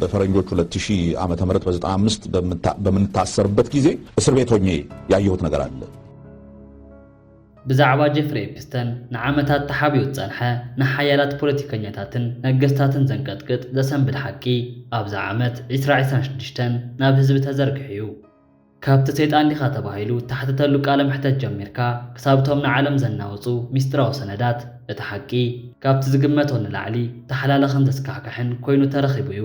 በፈረንጆች 2000 ዓመተ ምህረት በ95 በምንታሰርበት ጊዜ እስር ቤት ሆኜ ያየሁት ነገር አለ። ብዛዕባ ጀፍሪ ኤፕስተን ንዓመታት ተሓቢኡ ዝጸንሐ ንሓያላት ፖለቲከኛታትን ነገስታትን ዘንቀጥቅጥ ዘሰንብድ ሓቂ ኣብዛ ዓመት ዒስራ ዒስራን ሽዱሽተን ናብ ህዝቢ ተዘርጊሑ እዩ። ካብቲ ሰይጣን ዲኻ ተባሂሉ እተሓተተሉ ቃለ መሕተት ጀሚርካ ክሳብ እቶም ንዓለም ዘናውጹ ምስጢራዊ ሰነዳት፣ እቲ ሓቂ ካብቲ ዝግመቶ ንላዕሊ ተሓላላኽን ዘስካሕክሕን ኰይኑ ተረኺቡ እዩ።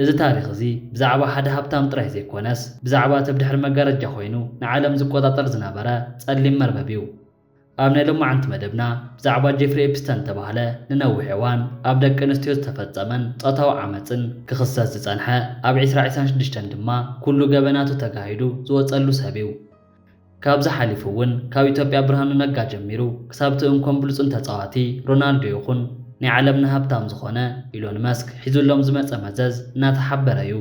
እዚ ታሪኽ እዚ ብዛዕባ ሓደ ሃብታም ጥራይ ዘይኰነስ፣ ብዛዕባ እቲ ብድሕሪ መጋረጃ ዀይኑ ንዓለም ዝቈጻጸር ዝነበረ ጸሊም መርበብ እዩ። ኣብ ናይ ሎማዓንቲ መደብና ብዛዕባ ጄፍሪ ኤፕስተን ዝተባህለ ንነዊሕ እዋን ኣብ ደቂ ኣንስትዮ ዝተፈጸመን ጾታዊ ዓመጽን ክኽሰስ ዝጸንሐ ኣብ ዕስራ ዕስራን ሽዱሽተን ድማ ኩሉ ገበናቱ ተጋሂዱ ዝወጸሉ ሰብ እዩ። ካብዚ ሓሊፉ እውን ካብ ኢትዮጵያ ብርሃኑ ነጋ ጀሚሩ ክሳብ እቲ እንኮን ብሉጽን ተጻዋቲ ሮናልዶ ይኹን ናይ ዓለምና ሃብታም ዝኾነ ኢሎን መስክ ሒዙሎም ዝመጸ መዘዝ እናተሓበረ እዩ።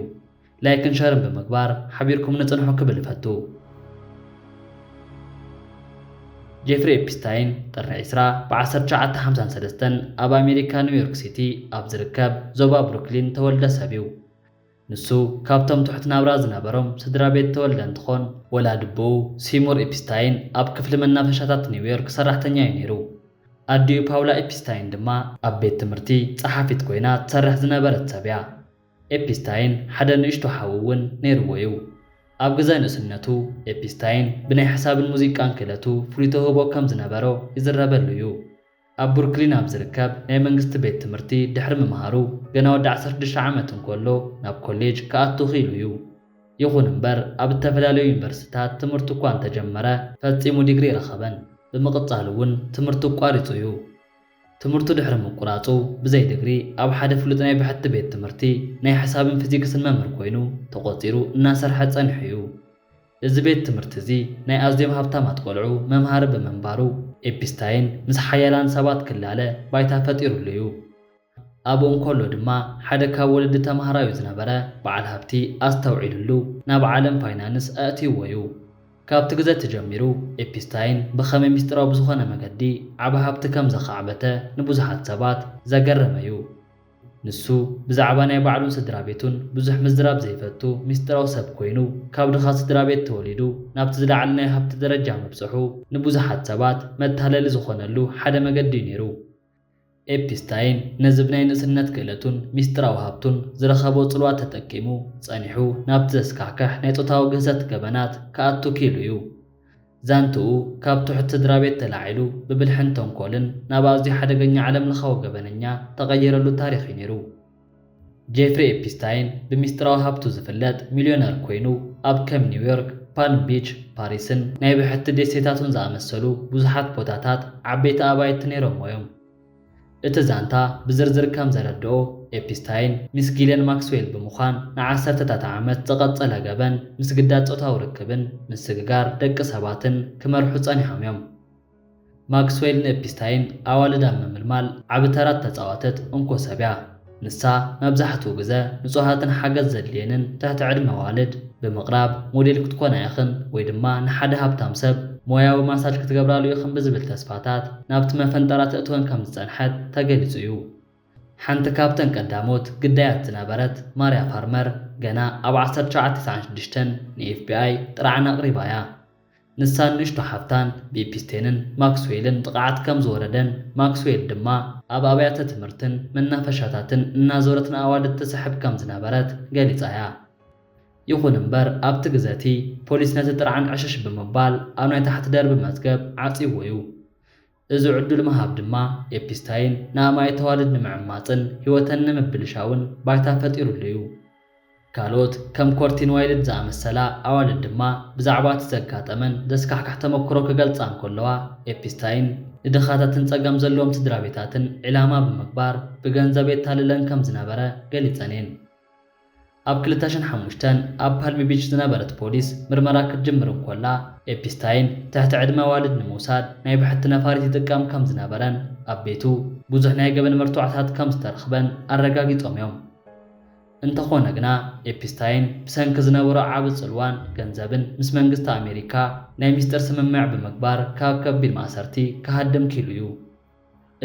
ላይክን ሸርን ብምግባር ሓቢርኩምኒ ጽንሑ ክብል እፈቱ። ጄፍሪ ኤፒስታይን ጥሪ ዕስራ ብ ዓሰርተ ትሽዓተ ሓምሳን ሰለስተን ኣብ ኣሜሪካ ኒውዮርክ ሲቲ ኣብ ዝርከብ ዞባ ብሩክሊን ተወልደ ሰብ እዩ። ንሱ ካብቶም ትሑት ናብራ ዝነበሮም ስድራቤት ተወልደ እንትኾን፣ ወላዲ ኣቦኡ ሲሙር ኤፒስታይን ኣብ ክፍሊ መናፈሻታት ኒውዮርክ ሰራሕተኛ እዩ ነይሩ። ኣዲኡ ፓውላ ኤፒስታይን ድማ ኣብ ቤት ትምህርቲ ጸሓፊት ኮይና ትሰርሕ ዝነበረት ሰብ እያ። ኤፒስታይን ሓደ ንእሽቶ ሓው እውን ነይርዎ እዩ። ኣብ ግዘ ንእስነቱ፣ ኤፒስታይን ብናይ ሓሳብን ሙዚቃን ክእለቱ ፍሉይ ተውህቦ ከም ዝነበሮ ይዝረበሉ እዩ። ኣብ ብሩክሊን ኣብ ዝርከብ ናይ መንግስቲ ቤት ትምህርቲ ድሕሪ ምምሃሩ፣ ገና ወዲ ዓሰርተ ሽዱሽተ ዓመት እንከሎ ናብ ኮሌጅ ክኣቱ ክኢሉ እዩ። ይኹን እምበር፣ ኣብ እተፈላለዩ ዩኒቨርሲቲታት ትምህርቱ እኳ እንተጀመረ፣ ፈጺሙ ዲግሪ ኣይረኸበን። ብምቕጻል እውን ትምህርቱ ኣቋሪጹ እዩ። ትምህርቱ ድሕሪ ምቁራጹ ብዘይ ድግሪ ኣብ ሓደ ፍሉጥ ናይ ብሕቲ ቤት ትምህርቲ ናይ ሕሳብን ፊዚክስን መምህር ኮይኑ ተቖጺሩ እናሰርሐ ጸኒሑ እዩ። እዚ ቤት ትምህርቲ እዚ ናይ ኣዝዮም ሃብታማት ቆልዑ መምሃሪ ብምንባሩ ኤፒስታይን ምስ ሓያላን ሰባት ክላለ ባይታ ፈጢሩሉ እዩ። ኣብኡ እንከሎ ድማ ሓደ ካብ ወለዲ ተማሃራዩ ዝነበረ በዓል ሃብቲ ኣስተውዒሉሉ ናብ ዓለም ፋይናንስ ኣእትይዎ እዩ። ካብቲ ግዘ እቲ ጀሚሩ ኤፒስታይን ብኸመይ ምስጢራዊ ብዝኾነ መገዲ ዓቢ ሃብቲ ከም ዘኻዕበተ ንብዙሓት ሰባት ዘገረመ እዩ። ንሱ ብዛዕባ ናይ ባዕሉን ስድራ ቤቱን ብዙሕ ምዝራብ ዘይፈቱ ምስጢራዊ ሰብ ኮይኑ ካብ ድኻ ስድራ ቤት ተወሊዱ ናብቲ ዝለዓለ ናይ ሃብቲ ደረጃ ምብጽሑ ንብዙሓት ሰባት መታለሊ ዝኾነሉ ሓደ መገዲ እዩ ነይሩ። ኤፒስታይን ነዚ ብናይ ንእስነት ክእለቱን ሚስጢራዊ ሃብቱን ዝረኸቦ ጽልዋ ተጠቂሙ፣ ጸኒሑ ናብቲ ዘስካሕክሕ ናይ ጾታዊ ግህሰት ገበናት ክኣቱ ክኢሉ እዩ። ዛንትኡ ካብ ትሑት ስድራቤት ተላዒሉ ብብልሕን ተንኮልን ናብ ኣዝዩ ሓደገኛ ዓለምለኻዊ ገበነኛ ተቐይረሉ ታሪኽ እዩ ነይሩ። ጄፍሪ ኤፒስታይን ብሚስጥራዊ ሃብቱ ዝፍለጥ ሚልዮነር ኰይኑ፣ ኣብ ከም ኒውዮርክ፣ ፓልም ቢች፣ ፓሪስን ናይ ብሕቲ ደሴታቱን ዝኣመሰሉ ብዙሓት ቦታታት ዓበይቲ ኣባይቲ ነይሮምዎ'ዮም። እቲ ዛንታ ብዝርዝር ከም ዘረድኦ፣ ኤፒስታይን ምስ ጊልያን ማክስዌል ብምዃን ንዓሰርተታት ዓመት ዝቐጸለ ገበን ምስግዳድ ጾታዊ ርክብን ምስግጋር ደቂ ሰባትን ክመርሑ ጸኒሖም'ዮም። ማክስዌል ንኤፒስታይን ኣዋልድ ኣብ ምምልማል ዓቢ ተራ እተጻወተት እንኮ ሰብ እያ። ንሳ መብዛሕትኡ ግዘ ንጹሃትን ሓገዝ ዘድልየንን ትሕቲ ዕድመ ኣዋልድ ብምቕራብ ሞዴል ክትኮና ኢኽን ወይ ድማ ንሓደ ሃብታም ሰብ ሞያዊ ማሳጅ ክትገብራሉ ኢኽን ብዝብል ተስፋታት ናብቲ መፈንጠራ ተእትወን ከም ዝጸንሐት ተገሊጹ እዩ። ሓንቲ ካብተን ቀዳሞት ግዳያት ዝነበረት ማርያ ፋርመር ገና ኣብ ዓሰርተ ትሽዓተ ሰዓን ሽዱሽተን ንኤፍቢኣይ ጥርዓን ኣቕሪባ እያ። ንሳን ንእሽቶ ሓፍታን ብኢፒስቴንን ማክስዌልን ጥቕዓት ከም ዝወረደን፣ ማክስዌል ድማ ኣብ ኣብያተ ትምህርትን መናፈሻታትን እናዞረት ንኣዋልድ ትስሕብ ከም ዝነበረት ገሊጻ እያ። ይኹን እምበር ኣብቲ ግዘ እቲ፣ ፖሊስ ነቲ ጥርዓን ዕሽሽ ብምባል ኣብ ናይ ታሕቲ ደርቢ መዝገብ ዓጽይዎ እዩ። እዚ ዕዱል ምሃብ ድማ ኤፒስታይን ንኣማኢት ኣዋልድ ንምዕማጽን ህይወተን ንምብልሻውን ባይታ ፈጢሩሉ እዩ። ካልኦት ከም ኮርቲን ዋይልድ ዝኣመሰላ ኣዋልድ ድማ ብዛዕባ እቲ ዘጋጠመን ዘስካሕክሕ ተመክሮ ክገልጻ እንከለዋ፣ ኤፒስታይን ንድኻታትን ጸገም ዘለዎም ስድራቤታትን ዒላማ ብምግባር ብገንዘብ የታልለን ከም ዝነበረ ገሊጸን እየን። ኣብ ክልተ ሽሕ ሓሙሽተ ኣብ ፓልሚ ቢች ዝነበረት ፖሊስ ምርመራ ክትጅምር እንኮላ፣ ኤፒስታይን ትሕቲ ዕድመ ኣዋልድ ንምውሳድ ናይ ብሕቲ ነፋሪት ይጥቀም ከም ዝነበረን ኣብ ቤቱ ብዙሕ ናይ ገበን መርትዖታት ከም ዝተረኽበን ኣረጋጊጾም እዮም። እንተኾነ ግና፣ ኤፒስታይን ብሰንኪ ዝነበሮ ዓቢ ጽልዋን ገንዘብን ምስ መንግስቲ ኣሜሪካ ናይ ሚስጥር ስምምዕ ብምግባር ካብ ከቢድ ማእሰርቲ ክሃድም ኪሉ እዩ።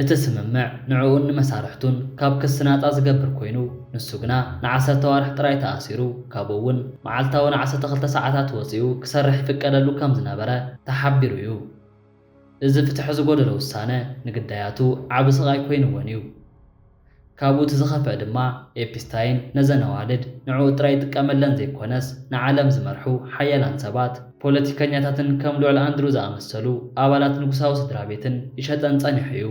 እቲ ስምምዕ ንዕኡን ንመሳርሕቱን ካብ ክሲ ናጻ ዝገብር ኮይኑ፣ ንሱ ግና ንዓሰርተ ኣዋርሕ ጥራይ ተኣሲሩ፣ ካብኡ እውን መዓልታዊ ንዓሰርተ ክልተ ሰዓታት ወጺኡ ክሰርሕ ይፍቀደሉ ከም ዝነበረ ተሓቢሩ እዩ። እዚ ፍትሒ ዝጎደሎ ውሳነ ንግዳያቱ ዓቢ ስቓይ ኮይኑወን እዩ። ካብኡ እቲ ዝኸፍኣ ድማ ኤፒስታይን ነዘን ኣዋልድ ንዕኡ ጥራይ ይጥቀመለን ዘይኮነስ ንዓለም ዝመርሑ ሓያላን ሰባት፣ ፖለቲከኛታትን ከም ልዑል ኣንድሩ ዝኣመሰሉ ኣባላት ንጉሳዊ ስድራቤትን ይሸጠን ጸኒሑ እዩ።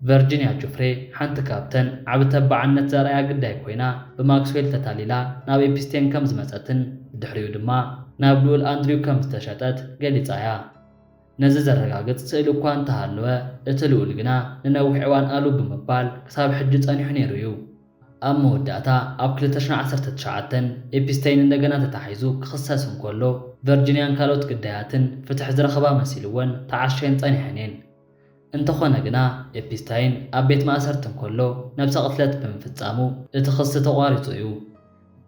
ቨርጂንያ ጁፍሬ ሓንቲ ካብተን ዓቢ ተባዕነት ዘርኣያ ግዳይ ኮይና ብማክስዌል ተታሊላ ናብ ኤፒስቴን ከም ዝመጸትን ብድሕሪኡ ድማ ናብ ልኡል ኣንድሪው ከም ዝተሸጠት ገሊጻ እያ። ነዚ ዘረጋግጽ ስእሊ እኳ እንተ ሃለወ፣ እቲ ልኡል ግና ንነዊሕ እዋን ኣሉ ብምባል ክሳብ ሕጂ ጸኒሑ ነይሩ እዩ። ኣብ መወዳእታ ኣብ ክልተ ሽሕን ዓሰርተ ትሽዓተን ኤፒስተይን እንደገና ተታሒዙ ክኽሰስ እንከሎ፣ ቨርጂንያን ካልኦት ግዳያትን ፍትሒ ዝረኸባ መሲልወን ተዓሽየን ጸኒሐን እየን። እንተኾነ ግና ኤፒስታይን ኣብ ቤት ማእሰርቲ እንከሎ ነብሰ ቅትለት ብምፍጻሙ እቲ ክሲ ተቋሪጹ እዩ።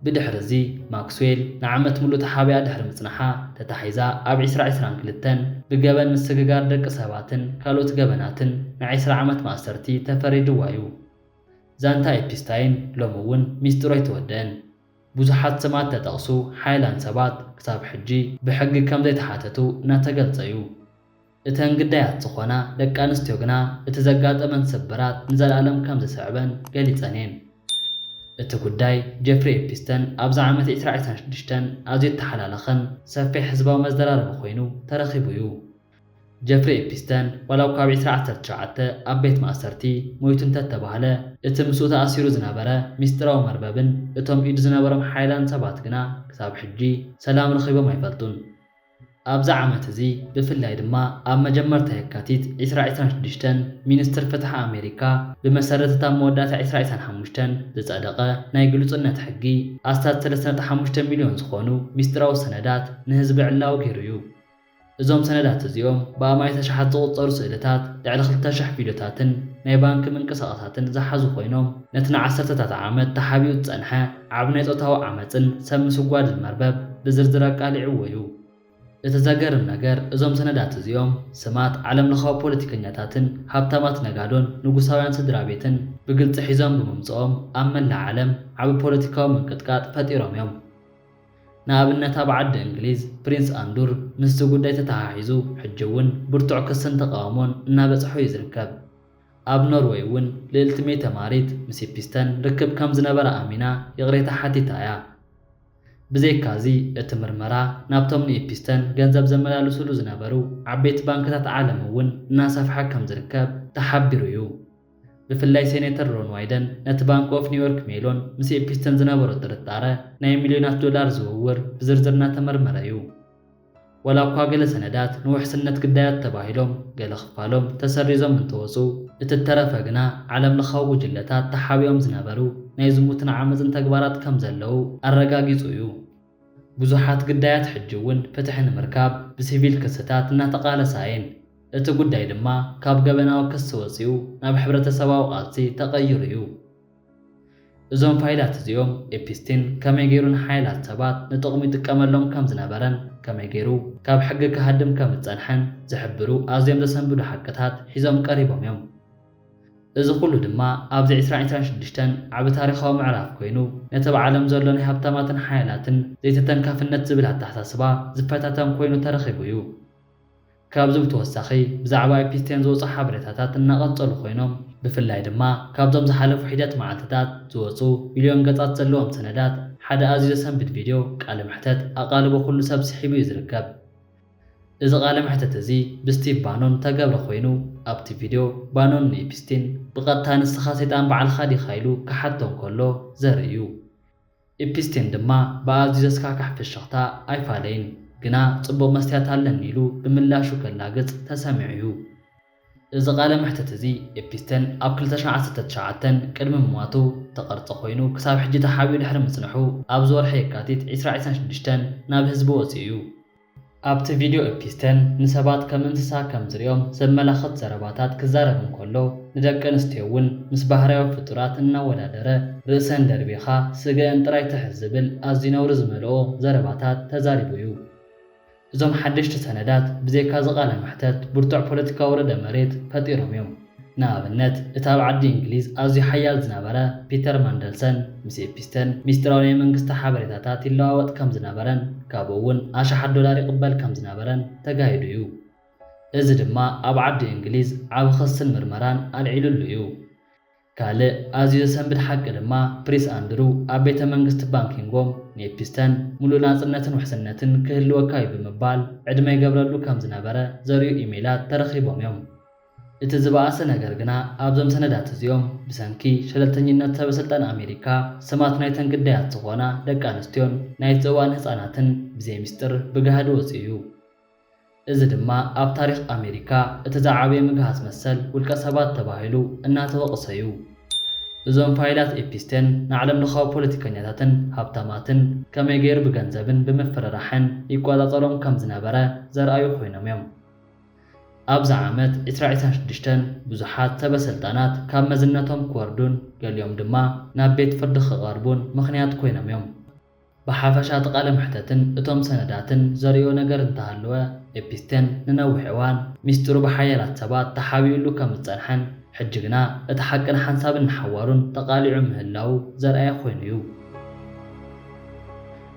ብድሕሪ እዚ ማክስዌል ንዓመት ምሉእ ተሓቢኣ ድሕሪ ምጽናሓ ተታሒዛ ኣብ ዕስራ ዕስራን ክልተን ብገበን ምስግጋር ደቂ ሰባትን ካልኦት ገበናትን ን ዕስራ ዓመት ማእሰርቲ ተፈሪድዋ እዩ። ዛንታ ኤፒስታይን ሎሚ እውን ሚስጢሩ ኣይተወደእን። ብዙሓት ስማት ተጠቕሱ ሓያላን ሰባት ክሳብ ሕጂ ብሕጊ ከም ዘይተሓተቱ እናተገልጸ እዩ። እተን ግዳያት ዝዀና ደቂ ኣንስትዮ ግና እቲ ዘጋጠመን ስብራት ንዘለኣለም ከም ዝስዕበን ገሊጸን እየን። እቲ ጕዳይ ጀፍሪ ኤፒስተን ኣብዚ ዓመት ዕስራ ዕስራን ሽዱሽተን ኣዝዩ እተሓላለኸን ሰፊሕ ህዝባዊ መዘራረቢ ኰይኑ ተረኺቡ እዩ። ጀፍሪ ኤፒስተን ዋላ እኳ ኣብ ዕስራ ዓሰርተ ሸውዓተ ኣብ ቤት ማእሰርቲ ሞይቱ እንተ ተባህለ፣ እቲ ምስኡ ተኣሲሩ ዝነበረ ምስጢራዊ መርበብን እቶም ኢዱ ዝነበሮም ሓያላን ሰባት ግና ክሳብ ሕጂ ሰላም ረኺቦም ኣይፈልጡን። ኣብዚ ዓመት እዚ ብፍላይ ድማ ኣብ መጀመርታ የካቲት ዕስራ ዕስራን ሽዱሽተን ሚንስትር ፍትሒ ኣሜሪካ ብመሰረት እታ ኣብ መወዳእታ ዕስራ ዕስራን ሓሙሽተን ዝጸደቐ ናይ ግሉጽነት ሕጊ ኣስታት ሰለስተ ነጥቢ ሓሙሽተ ሚልዮን ዝኾኑ ሚስጢራዊ ሰነዳት ንህዝቢ ዕላዊ ገይሩ እዩ። እዞም ሰነዳት እዚኦም ብኣማኢት ኣሽሓት ዝቑጸሩ ስእልታት፣ ልዕሊ ክልተ ሽሕ ቪድዮታትን ናይ ባንኪ ምንቅስቓሳትን ዝሓዙ ኮይኖም ነቲ ንዓሰርተታት ዓመት ተሓቢኡ ዝጸንሐ ኣብ ናይ ጾታዊ ዓመጽን ሰብ ምስጓድን መርበብ ብዝርዝር ኣቃሊዕዎ እዩ። እቲ ዘገርም ነገር እዞም ሰነዳት እዚኦም ስማት ዓለምለኻዊ ፖለቲከኛታትን ሃብታማት ነጋዶን ንጉሳውያን ስድራቤትን ብግልጺ ሒዞም ብምምጽኦም ኣብ መላእ ዓለም ዓቢ ፖለቲካዊ ምንቅጥቃጥ ፈጢሮም እዮም። ንኣብነት ኣብ ዓዲ እንግሊዝ ፕሪንስ ኣንዱር ምስዚ ጉዳይ ተተሓሒዙ ሕጂ'ውን ብርቱዕ ክስን ተቓውሞን እናበጽሖ እዩ ዝርከብ። ኣብ ኖርወይ እውን ልእልቲ ሜተ ማሪት ምስ ኢፒስተን ርክብ ከም ዝነበራ ኣሚና ይቕሬታ ሓቲታ እያ። ብዘይካዚ እቲ ምርመራ ናብቶም ንኢፒስተን ገንዘብ ዘመላልስሉ ዝነበሩ ዓበይቲ ባንክታት ዓለም እውን እናሰፍሐ ከም ዝርከብ ተሓቢሩ እዩ። ብፍላይ ሴኔተር ሮን ዋይደን ነቲ ባንክ ኦፍ ኒውዮርክ ሜሎን ምስ ኢፒስተን ዝነበሮ ጥርጣረ ናይ ሚልዮናት ዶላር ዝውውር ብዝርዝር እናተመርመረ እዩ። ዋላ እኳ ገለ ሰነዳት ንውሕስነት ግዳያት ተባሂሎም ገለ ክፋሎም ተሰሪዞም እንተወጹ፣ እቲ እተረፈ ግና ዓለምለኻዊ ጉጅለታት ተሓቢኦም ዝነበሩ ናይ ዝሙትን ዓመጽን ተግባራት ከም ዘለዉ ኣረጋጊጹ እዩ። ብዙሓት ግዳያት ሕጂ እውን ፍትሒ ንምርካብ ብሲቪል ክስታት እናተቓለሳ እየን፣ እቲ ጉዳይ ድማ ካብ ገበናዊ ክሲ ወጺኡ ናብ ሕብረተሰባዊ ቃልሲ ተቐይሩ እዩ። እዞም ፋይላት እዚኦም ኤፒስቲን ከመይ ገይሩ ንሓያላት ሰባት ንጥቕሙ ይጥቀመሎም ከም ዝነበረን ከመይ ገይሩ ካብ ሕጊ ክሃድም ከም ዝጸንሐን ዝሕብሩ ኣዝዮም ዘሰንብዱ ሓቅታት ሒዞም ቀሪቦም እዮም። እዚ ኹሉ ድማ ኣብዚ ዕስራን ዕስራን ሽዱሽተን ዓቢ ታሪኻዊ ምዕራፍ ኮይኑ ነቲ ኣብ ዓለም ዘሎ ናይ ሃብታማትን ሓያላትን ዘይተተንካፍነት ዝብል ኣተሓሳስባ ዝፈታተን ኮይኑ ተረኺቡ እዩ። ካብዚ ብተወሳኺ ብዛዕባ ኢፒስቴን ዝወጹ ሓበሬታታት እናቐንጸሉ ኮይኖም፣ ብፍላይ ድማ ካብዞም ዝሓለፉ ሒደት መዓልቲታት ዝወጹ ሚልዮን ገጻት ዘለዎም ሰነዳት ሓደ ኣዝዩ ዘሰንብድ ቪድዮ ቃለ መሕተት ኣቓልቦ ኩሉ ሰብ ስሒቡ እዩ ዝርከብ። እዚ ቃለ መሕተት እዚ ብስቲቭ ባኖን ዝተገብረ ኮይኑ፣ ኣብቲ ቪድዮ ባኖን ንኢፒስቲን ብቐጥታ ንስኻ ሰይጣን ባዕልኻ ዲኻ ኢሉ ክሓቶ እንከሎ ዘርኢ እዩ። ኢፕስቴን ድማ ብኣዝዩ ዘስካሕክሕ ፍሽኽታ፣ ኣይፋለይን፣ ግና ጽቡቕ መስትያት ኣለኒ ኢሉ ብምላሹ ከላግጽ ተሰሚዑ'ዩ። እዚ ቃለ መሕትት እዚ፣ ኢፕስቴን ኣብ ክልተ ሽሕ ዓሰርተ ትሽዓተ ቅድሚ ምሟቱ እተቐርጸ ኮይኑ፣ ክሳብ ሕጂ ተሓቢኡ ድሕሪ ምጽንሑ ኣብዚ ወርሒ የካቲት ዕስራ ዒስራን ሽዱሽተን ናብ ህዝቢ ወጺኡ'ዩ። ኣብቲ ቪድዮ ኤፒስተን ንሰባት ከም እንስሳ ከም ዝርእዮም ዘመላኽት ዘረባታት ክዛረብ እንከሎ፣ ንደቂ ኣንስትዮ እውን ምስ ባህርያዊ ፍጡራት እናወዳደረ ርእሰን ደርቢኻ ስገእን ጥራይ ትሕዝ ዝብል ኣዝዩ ነውሪ ዝመልኦ ዘረባታት ተዛሪቡ እዩ። እዞም ሓደሽቲ ሰነዳት ብዘይካዚ ቃለ መሕተት ብርቱዕ ፖለቲካዊ ርዕደ መሬት ፈጢሮም እዮም። ንኣብነት፣ እቲ ኣብ ዓዲ እንግሊዝ ኣዝዩ ሓያል ዝነበረ ፒተር ማንደልሰን ምስ ኤፒስተን ሚስጢራዊ ናይ መንግስቲ ሓበሬታታት ይለዋወጥ ከም ዝነበረን ካብኡ እውን ኣሽሓት ዶላር ይቕበል ከም ዝነበረን ተጋሂዱ እዩ። እዚ ድማ ኣብ ዓዲ እንግሊዝ ዓቢ ክስን ምርመራን ኣልዒሉሉ እዩ። ካልእ ኣዝዩ ዘሰንብድ ሓቂ ድማ ፕሪስ ኣንድሩ ኣብ ቤተ መንግስቲ ባንኪንጎም ንኤፒስተን ምሉእ ናጽነትን ውሕስነትን ክህልወካ እዩ ብምባል ዕድመ ይገብረሉ ከም ዝነበረ ዘርእዩ ኢሜይላት ተረኺቦም እዮም። እቲ ዝበኣሰ ነገር ግና ኣብዞም ሰነዳት እዚኦም ብሰንኪ ሸለልተኝነት ሰበስልጣን ኣሜሪካ ስማት ናይተን ግዳያት ዝኾና ደቂ ኣንስትዮን ናይቲ እዋን ህጻናትን ብዘይ ምስጢር ብጋህዲ ወጺኡ እዩ። እዚ ድማ ኣብ ታሪኽ ኣሜሪካ እቲ ዝዓበየ ምግሃስ መሰል ውልቀ ሰባት ተባሂሉ እናተወቕሰ እዩ። እዞም ፋይላት ኤፒስቴን ንዓለምለኻዊ ፖለቲከኛታትን ሃብታማትን ከመይ ገይሩ ብገንዘብን ብምፍርራሕን ይቆጻጸሮም ከም ዝነበረ ዘርኣዩ ኮይኖም እዮም። ኣብዚ ዓመት ዕስራ ዕስራን ሽዱሽተን ብዙሓት ሰበ-ስልጣናት ካብ መዝነቶም ክወርዱን ገሊኦም ድማ ናብ ቤት ፍርዲ ክቐርቡን ምኽንያት ኮይኖም እዮም። ብሓፈሻ እቲ ቃለ መሕተትን እቶም ሰነዳትን ዘርእዮ ነገር እንተሃለወ ኤፒስቴን ንነዊሕ እዋን ሚስጢሩ ብሓያላት ሰባት ተሓቢኡሉ ከም ዝጸንሐን ሕጂ ግና እቲ ሓቂ ንሓንሳብን ንሓዋሩን ተቓሊዑ ምህላዉ ዘርኣየ ኮይኑ እዩ።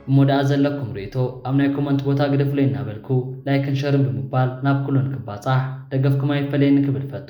እሞ ደኣ ዘለኩም ርእይቶ ኣብ ናይ ኮመንት ቦታ ግደፉለይ እናበልኩ ላይክን ሸርን ብምባል ናብ ኩሉ ንክባጻሕ ደገፍኩም ኣይፈለየኒ ክብል እፈቱ።